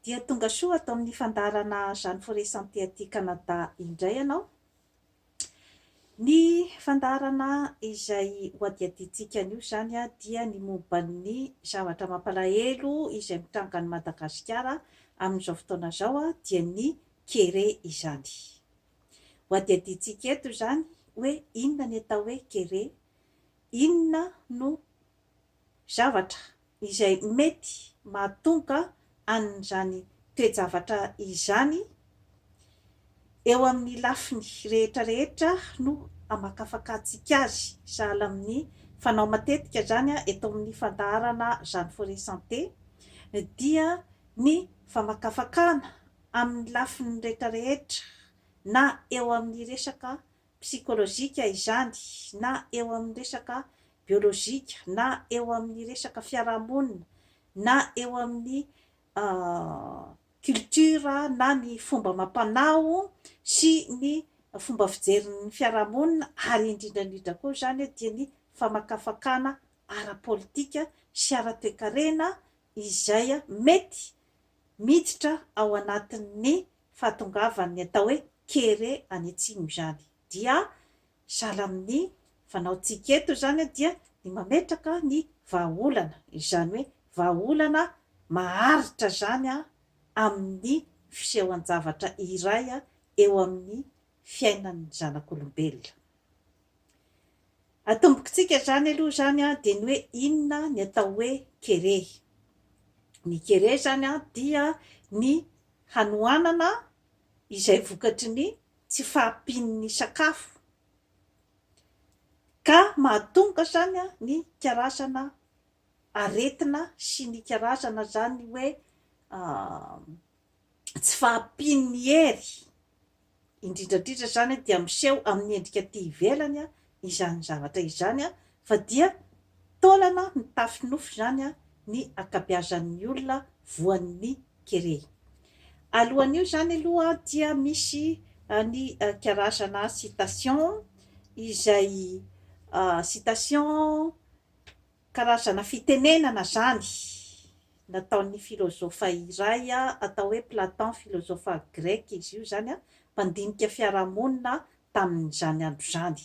Dia tonga soa ato amin'ny fandaharana Jeanne Forest Santé aty Canada indray ianao. Ny fandaharana izay hohadihadiantsika anio izany dia ny momba ny zavatra mampalahelo izay mitranga any Madagasikara amin'izao fotoana izao dia ny kere izany. Hohadihadiantsika eto izany hoe inona ny atao hoe kere, inona no zavatra izay mety mahatonga an'izany toe-javatra izany eo amin'ny lafiny rehetra rehetra no hamakafakantsika azy, sahala amin'ny fanao matetika izany eto amin'ny fandaharana Jeanne Forest Santé dia ny famakafakana amin'ny lafiny rehetra rehetra na eo amin'ny resaka psikolojika izany na eo amin'ny resaka biolojika na eo amin'ny resaka fiarahamonina na eo amin'ny culture na ny fomba amam-panao sy ny fomba fijerin'ny fiarahamonina ary indrindra indrindra koa izany dia ny famakafakana ara-politika sy ara-toekarena izay mety miditra ao anatin'ny fahatongavan'ny atao hoe kere any atsimo izany dia sahala amin'ny fanaontsika eto izany dia ny mametraka ny vahaolana izany hoe vahaolana maharitra izany amin'ny fisehoan-javatra iray eo amin'ny fiainan'ny zanak'olombelona. Atombokitsika izany aloha izany dia ny hoe inona ny atao hoe kere. Ny kere izany dia ny. hanohanana izay vokatry ny tsy fahampian'ny sakafo, ka mahatonga zany ny karazana aretina sy ny karazana zany hoe tsy fahampian'ny hery Indrindra indrindra izany dia miseho amin'ny endrika aty ivelany izany zavatra izany fa dia taolana mitafy nofy izany ny ankabeazan'ny olona voan'ny kere. Alohan'io izany aloha dia misy ny karazana citation izay citation Karazana fitenenana izany nataon'ny filozofa iray atao hoe Platon, filozofa greka izy io izany, mpandinika fiarahamonina tamin'izany andro izany.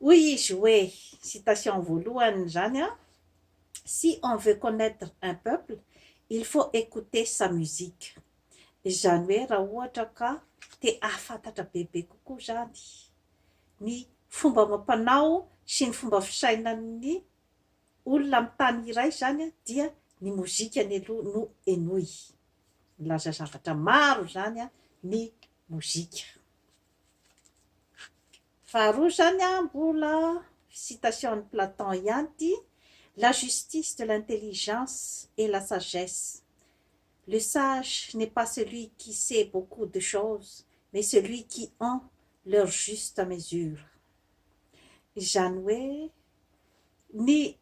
Hoy izy hoe, citation voalohany izany, Si on veut connaitre un peuple, il faut écouter sa musique. Izany hoe raha ohatra ka te hahafantatra bebe kokoa izany, ny fomba amam-panao sy ny fomba fisainan'ny olona amin'ny tany iray izany dia ny mozika ny aloha no henoy. Milaza zavatra maro izany ny mozika. Faharoa izany mbola citation an'i Platon ihany ity, la justice de l'intelligence et la sagesse. Le sage n'est pas celui qui sait beaucoup de choses mais celui qui en leur juste mesure izany hoe ny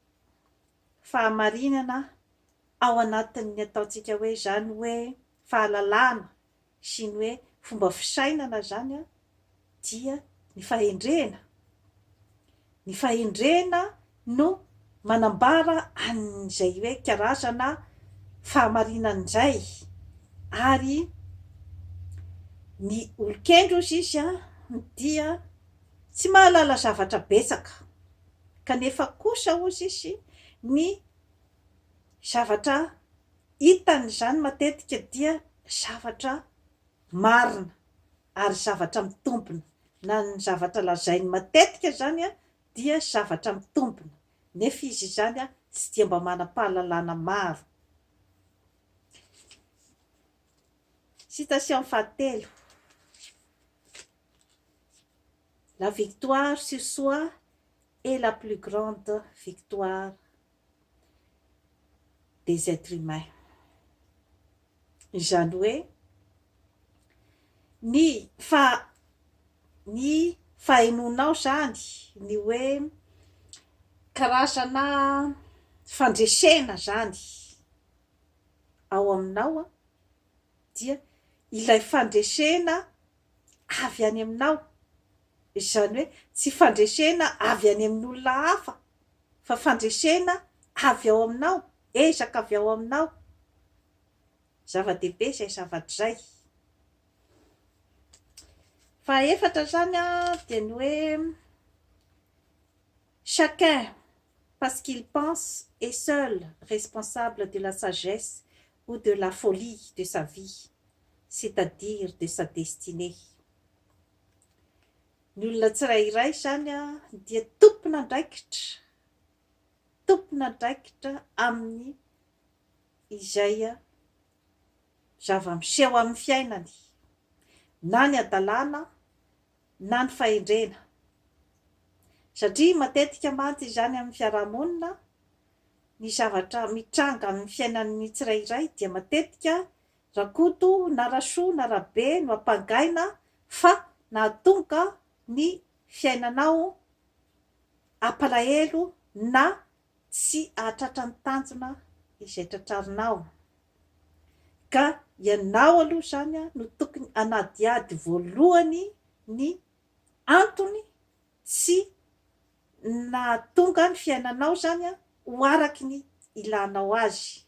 fahamarinana ao anatin'ny ataontsika hoe izany hoe fahalalana sy ny hoe fomba fisainana izany an, dia ny fahendrena. Ny fahendrena no manambara an'izay hoe karazana fahamarinana izay. Ary ny olon-kendry hozy izy an, dia tsy mahalala zavatra betsaka, kanefa kosa hozy izy ny zavatra Hitany izany matetika dia zavatra marina ary zavatra mitombina, na ny zavatra lazainy matetika izany dia zavatra mitombina, nefa izy izany tsy dia mba manam-pahalalana maro. Citation fahatelo, La victoire sur soi est la plus grande victoire. des etres humains. Izany hoe ny fa ny fahenoanao izany ny hoe karazana fandresena izany ao aminao dia ilay fandresena avy any aminao, izany hoe tsy fandresena avy any amin'olona hafa fa fandresena avy ao aminao, ezaka avy ao aminao. Zava-dehibe izay zavatra izay. Fahaefatra izany dia ny hoe chacun parce qu'il pense est seul responsable de la sagesse ou de la folie de sa vie, c'est-à-dire de sa destinée. Ny olona tsirairay izany dia tompon'andraikitra, tompon'andraikitra amin'ny izay zava-miseho amin'ny fiainany, na ny hadalana na ny fahendrena. Satria matetika mantsy izany amin'ny fiaraha-monina, ny zavatra mitranga amin'ny fiainan'ny tsirairay dia matetika Rakoto na Rasoa na Rabe no ampangaina fa nahatonga ny fiainanao hampalahelo na tsy hahatratra ny tanjona izay tratrarinao ka ianao aloha izany no tokony hanadihady voalohany ny antony tsy nahatonga ny fiainanao izany ho araky ny ilanao azy.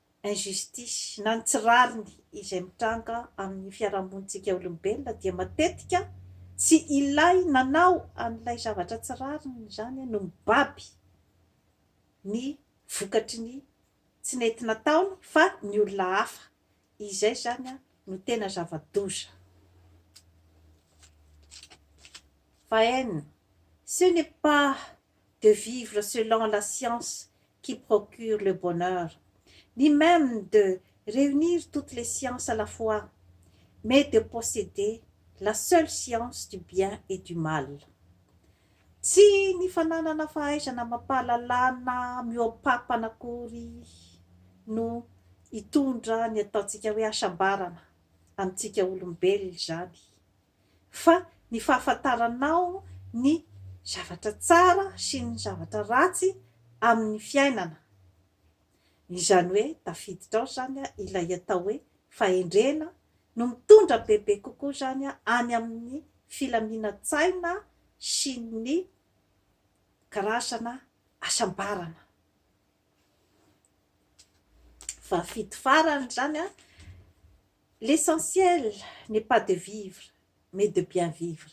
injustice, na ny tsy rariny izay mitranga amin'ny fiarahamonintsika olombelona dia matetika tsy ilay nanao an'ilay zavatra tsy rariny izany no mibaby ny vokatry ny tsy nety nataony fa ny olona hafa. Izay izany no tena zava-doza. Fa en, ce n'est pas de vivre selon la science qui procure le bonheur, ni meme de reunir toutes les sciences à la fois, mais de posseder la seule science du bien et du mal. Tsy ny fananana fahaizana amam-pahalalana mihoa-pampana akory no hitondra ny ataontsika hoe hasambarana amintsika olombelona izany. fa ny fahafantaranao ny zavatra tsara sy ny zavatra ratsy amin'ny fiainana. Izany hoe tafiditra ao izany ilay atao hoe fahendrena no mitondra bebe kokoa izany any amin'ny filaminan-tsaina sy ny karazana hasambarana. va fito farany izany an, l'essentiel n'est pas de vivre mais de bien vivre,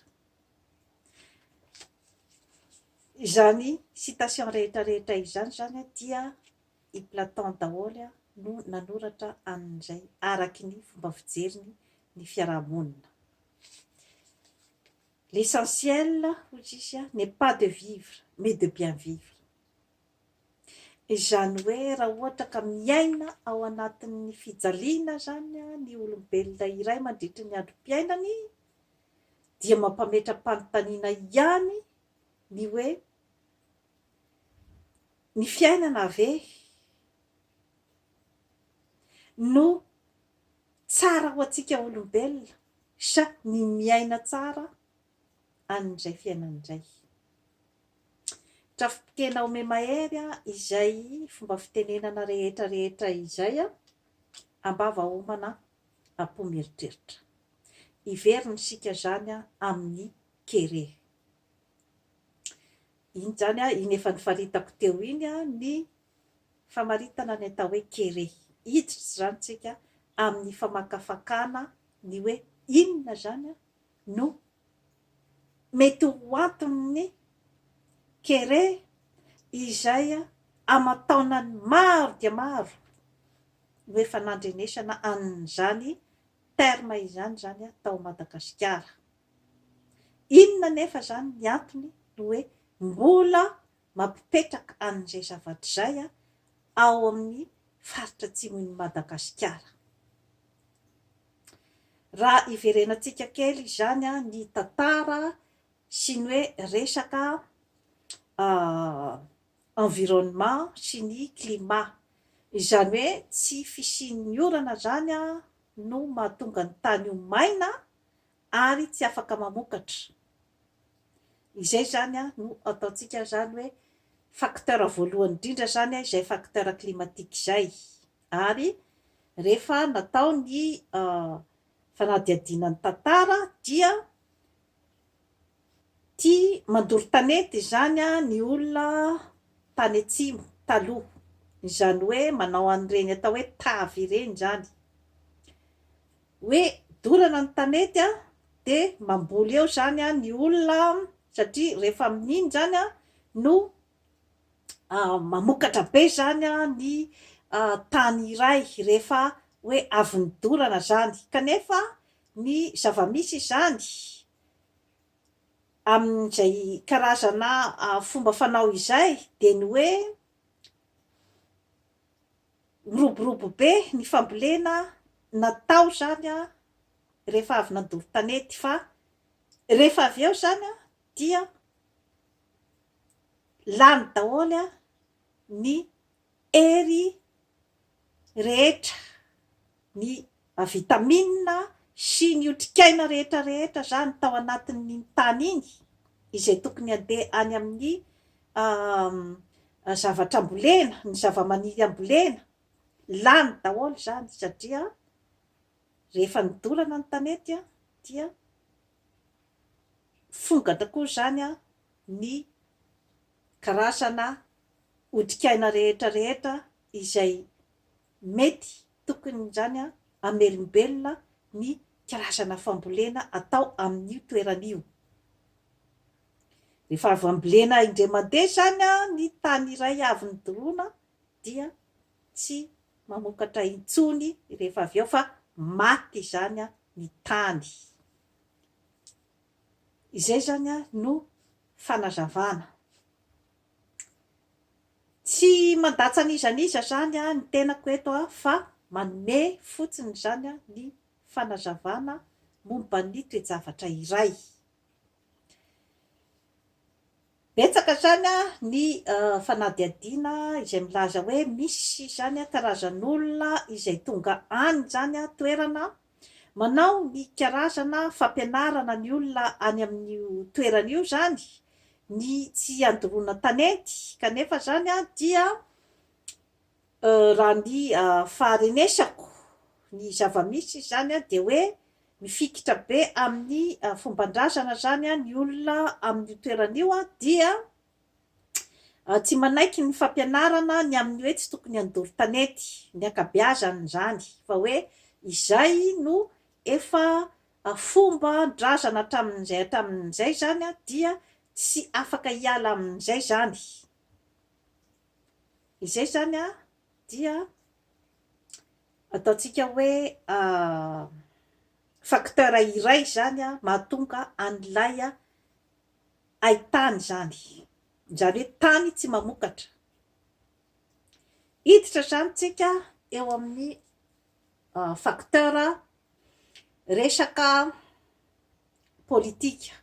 izany citation rehetra rehetra izany izany dia i Platon daholo no nanoratra an'izay araky ny fomba fijeriny ny fiaraha-monina, l'essentiel hoy izy n'est pas de vivre mais de bien vivre, Izany hoe raha ohatra ka miaina ao anatin'ny fijaliana izany ny olombelona iray mandritry ny androm-piainany dia mampametra-panontaniana ihany ny hoe, ny fiainana ve no tsara ho antsika olombelona sa ny miaina tsara? an'izay fiainana indray. Trafi-piteny ao Memahery izay fomba fitenenana rehetra rehetra izay an, am-bava homana am-po mieritreritra. Hiverina isika izany amin'ny kere. Iny izany an, iny efa nifaritako teo iny an, ny famaritana ny atao hoe kere. Hiditra izany isika amin'ny famakafakana ny hoe inona izany an, no mety ho anton'ny kere izay aman-taonany maro dia maro no efa nandrenesana an'izany terme izany izany tao Madagasikara. Inona anefa izany ny antony no hoe mbola mampipetraka an'izay zavatra izay ao amin'ny faritra atsimon'i Madagasikara. Raha iverenantsika kely izany ny tantara sy ny hoe resaka environnement sy ny climat. Izany hoe tsy fisian'ny orana izany no mahatonga ny tany ho maina ary tsy afaka mamokatra. Izay izany no ataontsika izany hoe facteur voalohany indrindra izany izay facteur climatique izay. Ary rehefa natao ny fanadihadiana ny tantara dia tia mandoro tanety izany ny olona tany atsimo taloha. Izany hoe manao an'ireny atao hoe tavy ireny izany. hoe dorana ny tanety a de mamboly eo zany a ny olona a satria rehefa amin'iny zany a no mamokatra be zany a ny tany iray rehefa hoe avy nidorana zany kanefa ny zava-misy izany amin'izay karazana fomba fanao izay de ny hoe Miroborobo be ny fambolena natao izany rehefa avy nandoro tanety fa rehefa avy eo izany dia lany daholo ny hery rehetra ny vitamina sy ny otrikaina rehetra rehetra izany tao anatin'iny tany iny izay tokony handeha any amin'ny zavatra ambolena, ny zavamaniry ambolena, lany daholo izany satria rehefa nidorana ny tanety dia fonga tokoa izany ny karazana otrikaina rehetra rehetra izay Mety tokony izany an hamelombelona ny karazana fambolena atao amin'io toerana io. Rehefa avy ambolena indray mandeha izany an ny tany iray avy nodoroana dia tsy mamokatra intsony rehefa avy eo fa maty izany an ny tany. Izay izany an no fanazavana. Tsy mandatsa an'iza n'iza izany ny tenako eto fa manome fotsiny izany ny fanazavana momba ny toe-javatra iray. Betsaka izany ny fanadihadiana izay milaza hoe misy izany karazan'olona izay tonga any izany toerana Manao ny karazana fampianarana ny olona any amin'io toerana io izany ny tsy handoroana tanety kanefa izany dia raha ny faharenesako ny zava-misy izy izany dia hoe mifikitra be amin'ny fomban-drazana izany ny olona amin'io toerana io dia Tsy manaiky ny fampianarana ny amin'ny hoe tsy tokony handoro tanety, ny ankabeazany izany, fa hoe izay no efa fomban-drazana hatramin'izay hatramin'izay izany dia tsy afaka hiala amin'izay izany. Izay izany dia ataontsika hoe facteur iray izany mahatonga an'ilay Hay tany izany. Izany hoe tany tsy mamokatra. Hiditra izany tsika eo amin'ny facteur resaka politika.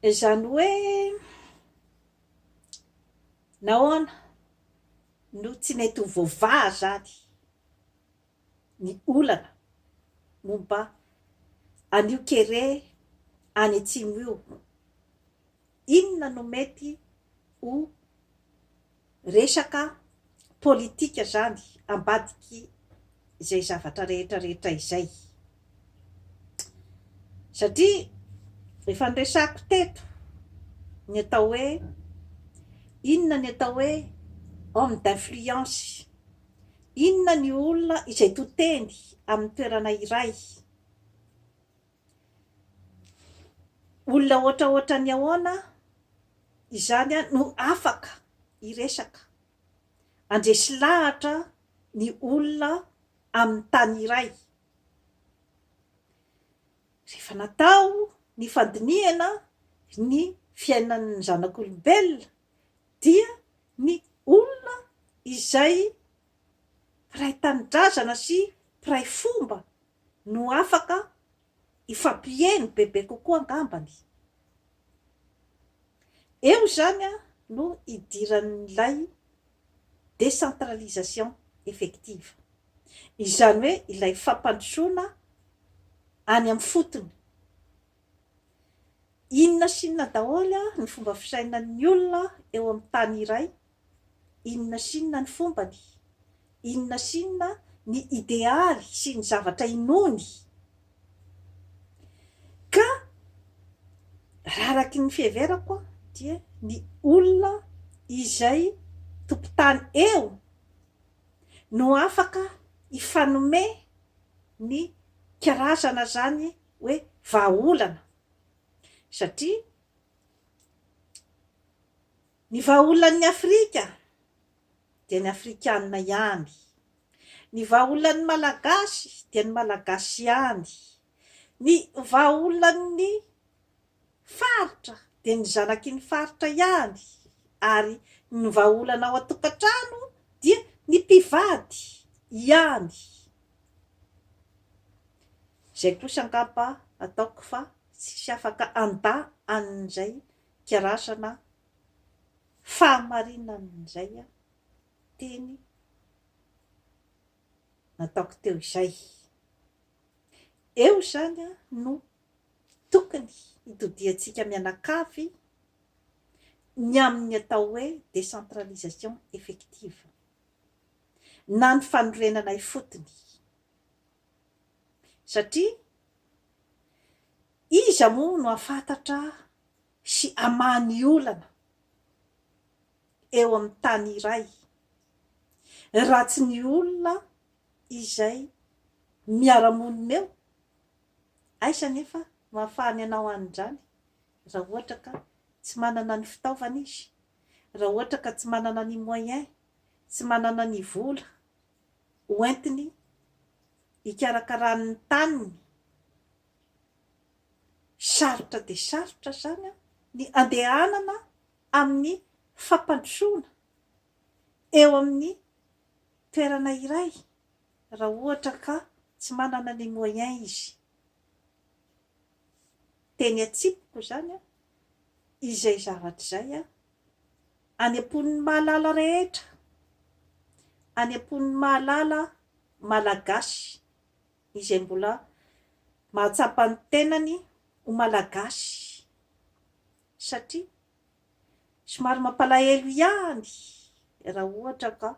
Izany hoe nahoana no tsy mety ho voavaha izany. ny olana momba an'io kere any atsimo io. Inona no mety ho resaka politika izany ambadiky izay zavatra rehetra rehetra izay? Satria efa niresako teto ny atao hoe, inona ny atao hoe homme d'influence, inona ny olona izay to teny amin'ny toerana iray, olona ohatraohatran'ny ahoana izany no afaka hiresaka, handresy lahatra ny olona amin'ny tany iray, Rehefa natao ny fandinihana ny fiainan'ny zanak'olombelona dia ny olona izay mpiray tanindrazana sy mpiray fomba no afaka hifampieno bebe kokoa angambany. Eo izany no idiran'ilay décentralisation effective, izany hoe ilay fampandrosoana any amin'ny fotony. Inona sy inona daholo ny fomba fisainan'ny olona eo amin'ny tany iray Inona sy inona ny fombany, inona sy inona ny idealy sy ny zavatra inoany, ka raha araky ny fiheverako dia ny olona izay tompon-tany eo no afaka hifanome ny karazana izany hoe vahaolana satria Ny vahaolan'ny Afrika dia ny Afrikanina ihany. Ny vahaolan'ny Malagasy dia ny Malagasy ihany. Ny vahaolan'ny Faritra dia ny zanaky ny Faritra ihany ary ny vahaolana ao an-tokantrano dia ny mpivady ihany. Izay kosa angamba ataoko fa tsisy afaka handà an'izay karazana fahamarinan'izay teny nataoko teo izay. Eo izany no tokony hitodiantsika mianakavy ny amin'ny atao hoe décentralisation effective na ny fanorenana ifotony satria Iza moa no hahafantatra sy hamaha ny olana eo amin'ny tany iray raha tsy ny olona izay miara-monina eo? Aiza anefa no hahafahany hanao an'izany raha ohatra ka tsy manana ny fitaovana izy, raha ohatra ka tsy manana ny moyen, tsy manana ny vola hoentiny hikarakarany ny taniny Sarotra dia sarotra izany ny handehanana amin'ny fampandrosoana eo amin'ny toerana iray raha ohatra ka tsy manana ny moyens izy. Dia ny atsipiko izany izay zavatra izay any am-pon'ny mahalala rehetra, any am-pon'ny mahalala malagasy. izay mbola mahatsapa ny tenany ho Malagasy satria somary mampalahelo ihany raha ohatra ka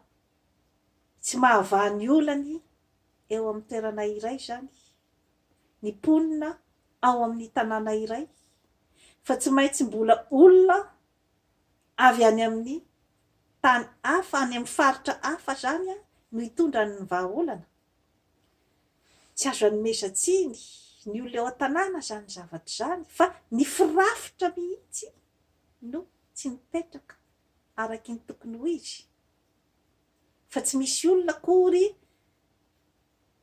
tsy mahavaha ny olany eo amin'ny toerana iray izany ny mponina ao amin'ny tanàna iray fa tsy maintsy mbola olona avy any amin'ny tany hafa, any amin'ny faritra hafa izany no hitondra ny vahaolana. Tsy azo anomezan-tsiny ny olona eo an-tanàna izany zavatra izany fa ny firafitra mihitsy no tsy mipetraka araka ny tokony ho izy fa tsy misy olona akory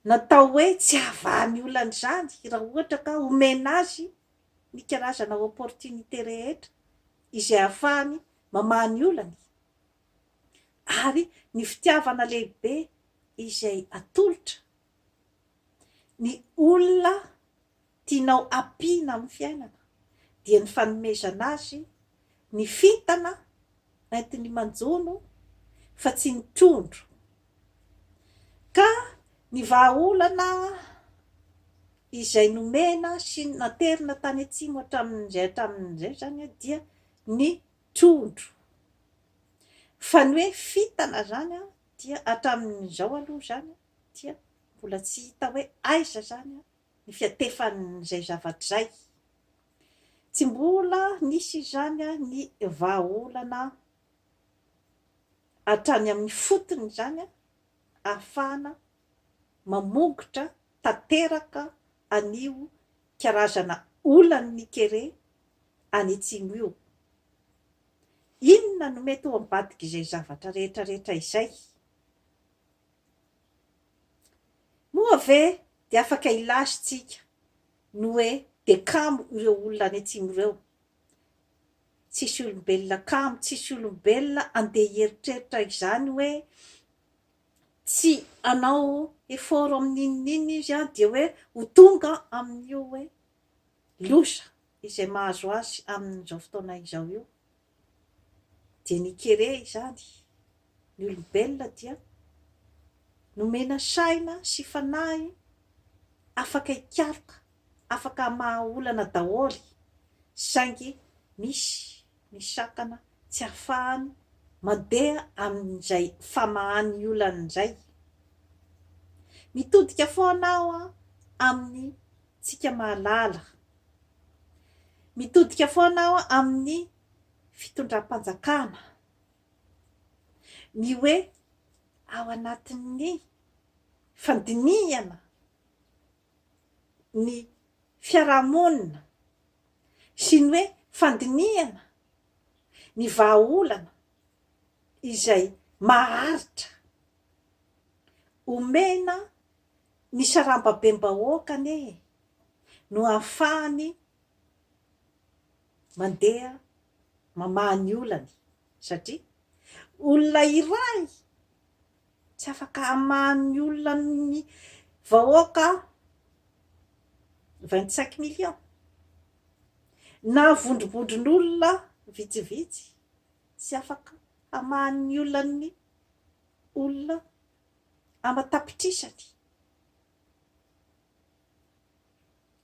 natao hoe tsy hahavahan'ny olana izany raha ohatra ka omena azy ny karazana opportunité rehetra izay ahafahany mamaha ny olany ary ny fitiavana lehibe izay atolotra ny olona tianao ampiana amin'ny fiainana dia ny fanomezana azy ny fintana entiny manjono fa tsy ny trondro ka ny vahaolana izay nomena sy naterina tany atsimo hatramin'izay hatramin'izay izany dia ny trondro. Fa ny hoe fintana izany an, dia hatramin'izao aloha izany dia mbola tsy hita hoe aiza izany ny fiantefan'izay zavatra izay. Tsy mbola nisy izany ny vahaolana hatrany amin'ny fotony izany ahafahana mamongotra tanteraka an'io karazana olan'ny ny kere any atsimo io. Inona no mety ho ambadik'izay zavatra rehetra rehetra izay? Moa ve dia afaka hilaza tsika ny hoe dia kamo ireo olona any atsimo ireo? Tsisy olombelona kamo, tsisy olombelona andeha hieritreritra izany hoe tsy hanao effort amin'ny n'inon'inona izy an, dia hoe ho tonga amin'io hoe loza izay mahazo azy amin'izao fotoana izao io. Dia ny kere izany, ny olombelona dia nomena saina sy fanahy afaka hikaroka, afaka hamaha olana daholo, saingy misy ny satana tsy afahany mandeha amin'izay famahany olany izay. Mitodika foana aho amin'ny tsika mahalala. Mitodika foana aho amin'ny fitondram-panjakana. Ny hoe ao anatin'ny fandinihana ny fiarahamonina sy ny hoe fandinihana ny vahaolana izay maharitra omena ny sarambabem-bahoaka anie e, no ahafahany mandeha mamaha ny olany satria olona iray Tsy afaka hamaha ny olona ny vahoaka vingt cinq millions na vondrobondron'olona vitsivitsy, tsy afaka hamaha ny olan'ny olona aman-tapitrisany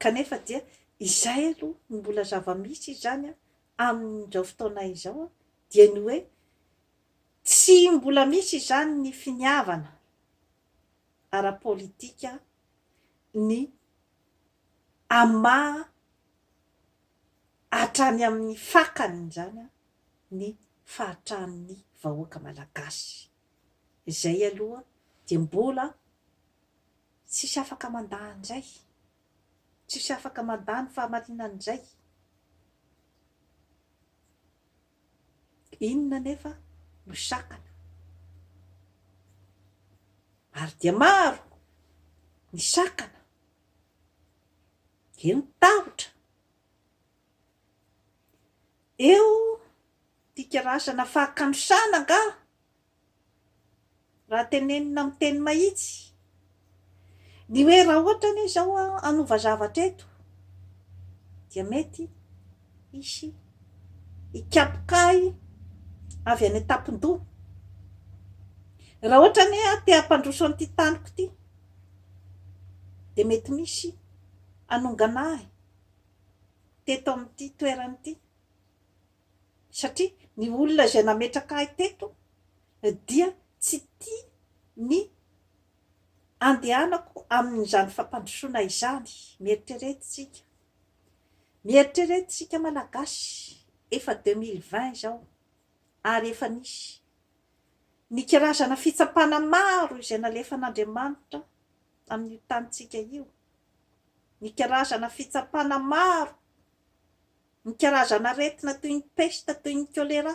kanefa dia izay aloha no mbola zava-misy izany amin'izao fotoana izao dia ny hoe Tsy mbola misy izany ny finiavana ara-politika ny hamaha hatrany amin'ny fakany izany ny fahatran'ny vahoaka malagasy. Izay aloha dia mbola tsisy afaka mandà an'izay. Tsisy afaka mandà ny fahamarinan'izay. Inona anefa no sakana? Maro dia maro ny sakana, eo ny tahotra, eo ny fikirasana fahakanosana angaha Raha tenenina amin'ny teny mahitsy, ny hoe raha ohatra anie izao hanova zavatra eto dia mety hisy hikapoka ahy avy any an-tampon-doha. Raha ohatra anie aho te hampandroso an'ity taniko ity dia mety misy hanongana ahy teto amin'ity toerana ity. satria ny olona izay nametraka ahy teto dia tsy tia ny handehanako amin'izany fampandrosoana izany, mieritreretsika, mieritreretsika Malagasy, efa deux mille vingt izao ary efa nisy ny karazana fitsapana maro izay nalefan'Andriamanitra amin'io tanintsika io, ny karazana fitsapana maro, ny karazan'aretina toy ny pesta, toy ny choléra,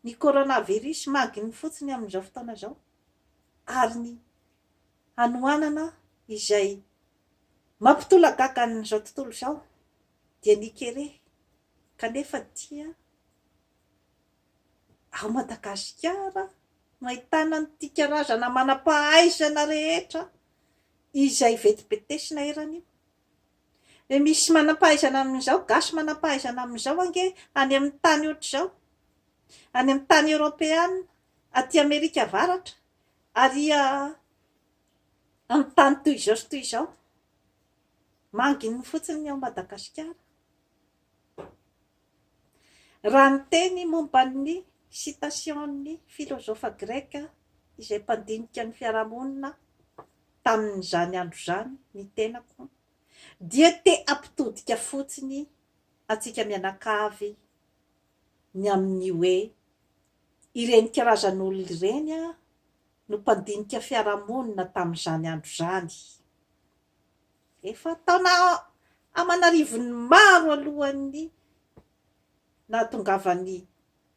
ny coronavirus magin'ny fotsiny amin'izao fotoana izao, ary ny hanoanana izay mampitolagaga an'izao tontolo izao dia ny kere, kanefa dia ao Madagasikara no ahitana an'ity karazana manam-pahaizana rehetra izay vetibetesina eran'io. Dia misy manam-pahaizana amin'izao, gasy manam-pahaizana amin'izao ange any amin'ny tany ohatr'izao, any amin'ny tany eoropeana, aty Amerika Avaratra, ary amin'ny tany toy izao sy toy izao. Manginy fotsiny ny ao Madagasikara. Raha niteny momba ny sitasion'ny filozofa greka izay mpandinika ny fiarahamonina tamin'izany andro izany ny tenako, dia te hampitodika fotsiny antsika mianakavy ny amin'ny hoe ireny karazan'olona ireny no mpandinika fiarahamonina tamin'izany andro izany. Efa taona aman'arivony maro alohan'ny nahatongavan'i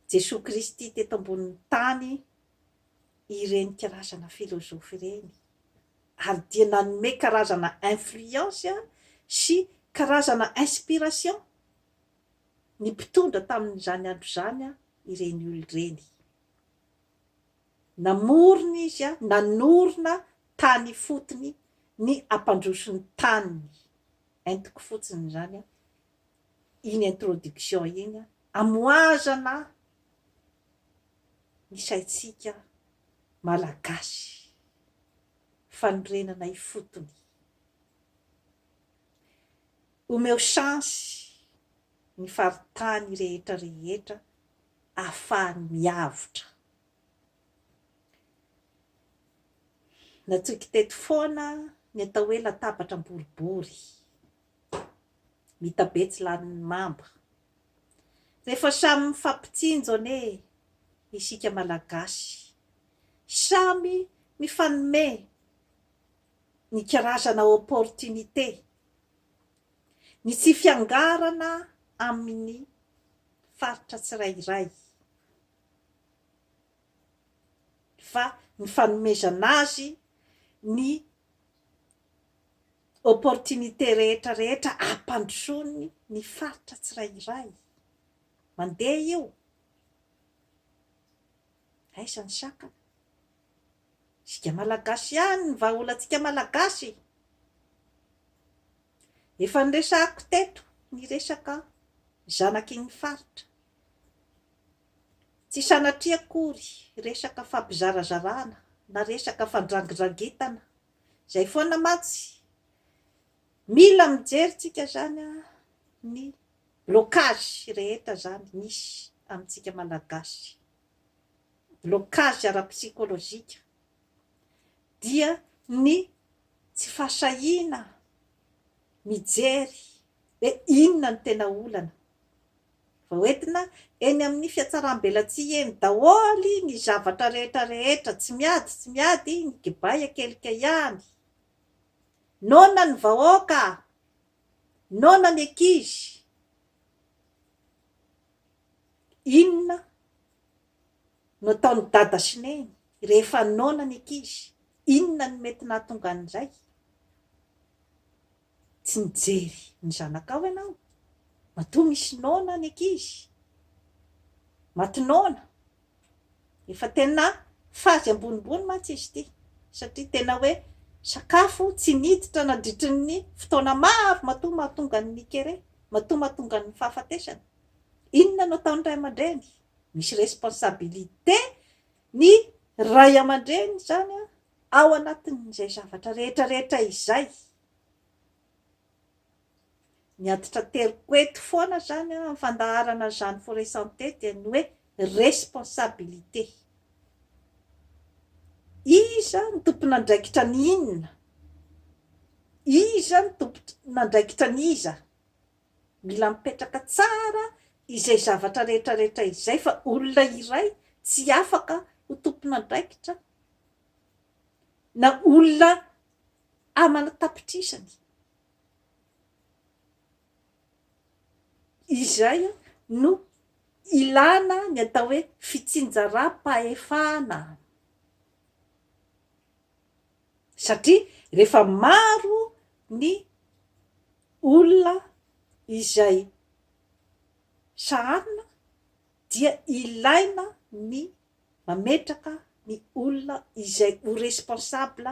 Jesoa Kristy teto ambonin'ny tany ireny karazana filozofy ireny, ary dia nanome karazana influence sy karazana inspiration ny mpitondra tamin'izany andro izany ireny olona ireny. Namorona izy an, nanorina tany ifotony ny hampandroso ny taniny. Entiko fotsiny izany an, iny introduction iny an, hamohazana ny saintsika Malagasy. Fanorenana ifotony. Omeo chance ny faritany rehetra rehetra ahafahany miavotra. Natsoiko teto foana ny atao hoe latabatra boribory, mitabe tsy lanin'ny mamba. Rehefa samy mifampitsinjo anie isika Malagasy, samy mifanome ny karazana opportunité, ny tsy fiangarana amin'ny faritra tsirairay, fa ny fanomezana azy ny opportunité rehetra rehetra hampandrosoany ny faritra tsirairay. Mandeha io. Aiza ny sakana? Isika Malagasy ihany ny vahaolantsika Malagasy. Efa noresahiko teto ny resaka zanaky ny faritra. Tsy sanatria akory resaka fampizarazarana na resaka fandrangindrangetana izay foana mantsy. Mila mijery tsika izany ny blocage rehetra izany misy amintsika malagasy. Blocage ara-psychologique. dia ny tsy fahasahiana mijery hoe inona no tena olana. Vao entina eny amin'ny fiatsaram-belatsihy eny daholo ny zavatra rehetra rehetra, tsy miady tsy miady ny kibay an-kelika ihany. Noana ny vahoaka, noana ny ankizy. Inona Nataon'i Dada sy Neny rehefa noana ny ankizy, inona no mety nahatonga an'i Ray? Tsy mijery ny zanakao ianao? Matoa misy noana ny ankizy? Maty noana? Efa tena fazy ambonimbony mantsy izy ity satria tena hoe sakafo tsy miditra nandritry ny fotoana maro matoa mahatonga ny kere, matoa mahatonga ny fahafatesana. Inona no ataon'ny Ray aman-dReny? misy responsabilité ny Ray aman-dReny izany ao anatin'izay zavatra rehetra rehetra izay. Ny antitrateriko eto foana izany amin'ny fandaharana izany Forêt Santé dia ny hoe responsabilité. Iza no tompon'andraikitra ny inona? Iza no tompon'andraikitra ny iza? Mila mipetraka tsara izay zavatra rehetra rehetra izay fa olona iray tsy afaka ho tompon'andraikitra na olona aman'antapitrisany izay no ilana ny atao hoe fitsinjaram-pahefana. satria rehefa maro ny olona izay sahanina dia ilaina ny mametraka ny olona izay ho responsable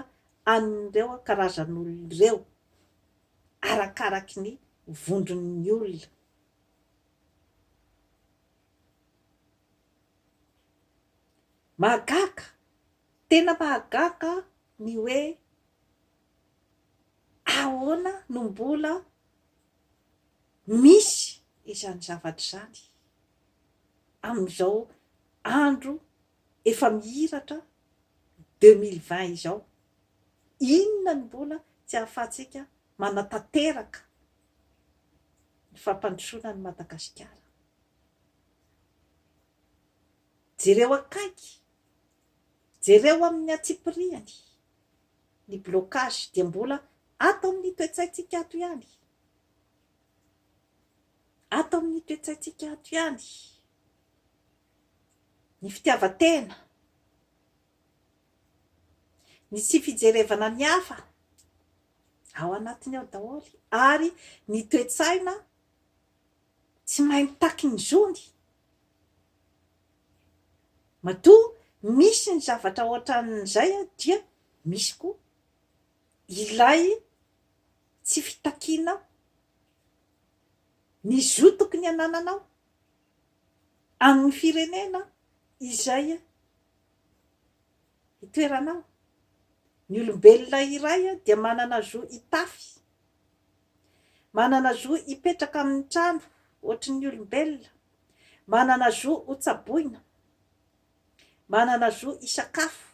an'ireo karazan'olona ireo arakaraky ny vondron'ny olona. Mahagaga Tena mahagaga ny hoe ahoana no mbola misy izany zavatra izany amin'izao andro efa mihiratra deux mille vingt izao. Inona no mbola tsy ahafahantsika manatanteraka ny fampandrosoana an'i Madagasikara. Jereo akaiky Jereo amin'ny antsipiriany. Ny blocage dia mbola ato amin'ny toe-tsaintsika ato ihany. Ato amin'ny toe-tsaintsika ato ihany. Ny fitiavan-tena. Ny tsy fijerevana ny hafa. Ao anatiny ao daholo. Ary ny toe-tsaina tsy mahay mitaky ny zony. Matoa misy ny zavatra ohatran'izay dia misy koa ilay tsy fitakianao ny zo tokony anananao amin'ny firenena izay itoeranao. Ny olombelona iray dia manana zo hitafy, manana zo hipetraka amin'ny trano ohatry ny olombelona, Manana zo hotsaboina. Manana zo hisakafo.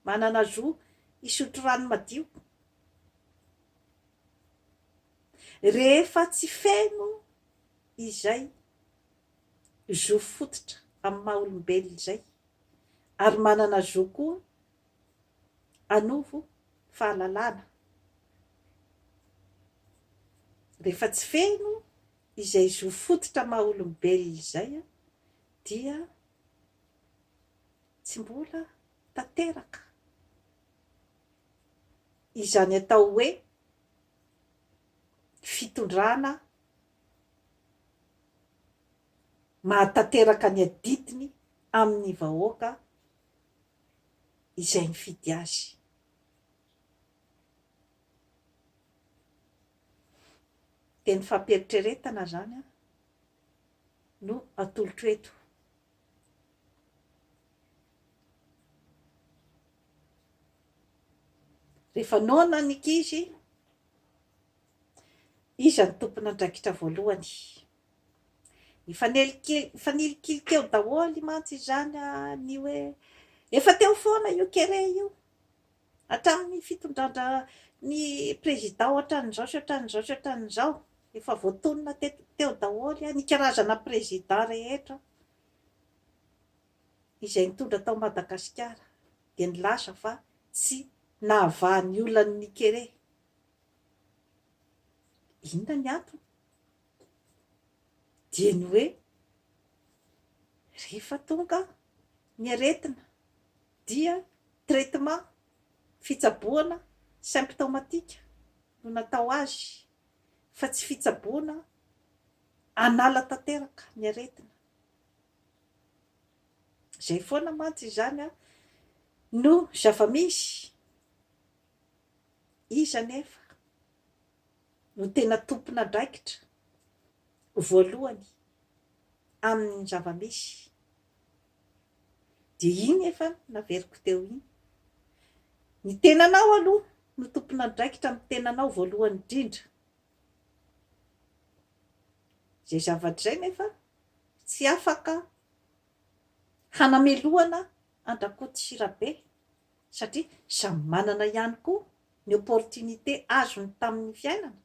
Manana zo hisotro rano madio. Rehefa tsy feno izay zo fototra amin'ny maha olombelona izay, ary manana zo koa hanovo fahalalana. Rehefa tsy feno izay zo fototra maha olombelona izay dia tsy mbola tanteraka izany atao hoe fitondrana mahatanteraka ny adidiny amin'ny vahoaka izay nifidy azy. dia ny fampieritreretana izany no atolotro eto. Rehefa noana ny ankizy, iza ny tompon'andraikitra voalohany? Nifanilikilikely teo daholo mantsy izany ny hoe efa teo foana io kere io. Hatramin'ny fitondran-dra ny prezida ohatran'izao sy ohatran'izao sy ohatran'izao. Efa voatonona teto teo daholo ny karazana prezida rehetra izay nitondra tao Madagasikara dia nilaza fa tsy nahavaha ny olan'ny Nikere. Inona ny antony? Dia ny hoe rehefa tonga ny aretina, dia traitement, fitsaboana, symptomatique no natao azy fa tsy fitsaboana hanala tanteraka ny aretina, izay foana mantsy izany no zava-misy, iza anefa no tena tompon'andraikitra voalohany amin'ny zava-misy? Dia iny efa naveriko teo iny. Ny tenanao aloha no tompon'andraikitra amin'ny tenanao voalohany indrindra. Izay zavatra izay nefa tsy afaka hanamelohana an-dRakotoshirabe satria samy manana ihany koa ny opportunité azony tamin'ny fiainana,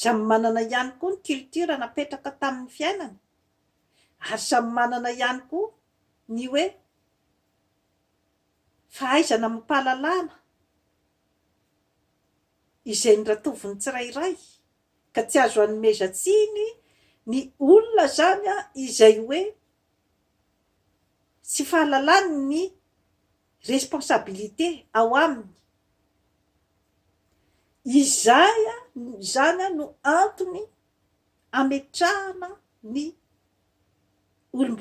samy manana ihany koa ny culture napetraka tamin'ny fiainana, ary samy manana ihany koa ny hoe fahaizana amim-pahalalana izay niratoviny tsirairay ka tsy azo anomezan-tsiny ny olona izany izay hoe tsy fahalalany ny responsabilité ao aminy. Izay izany no antony ametrahana ny olom-boafidy.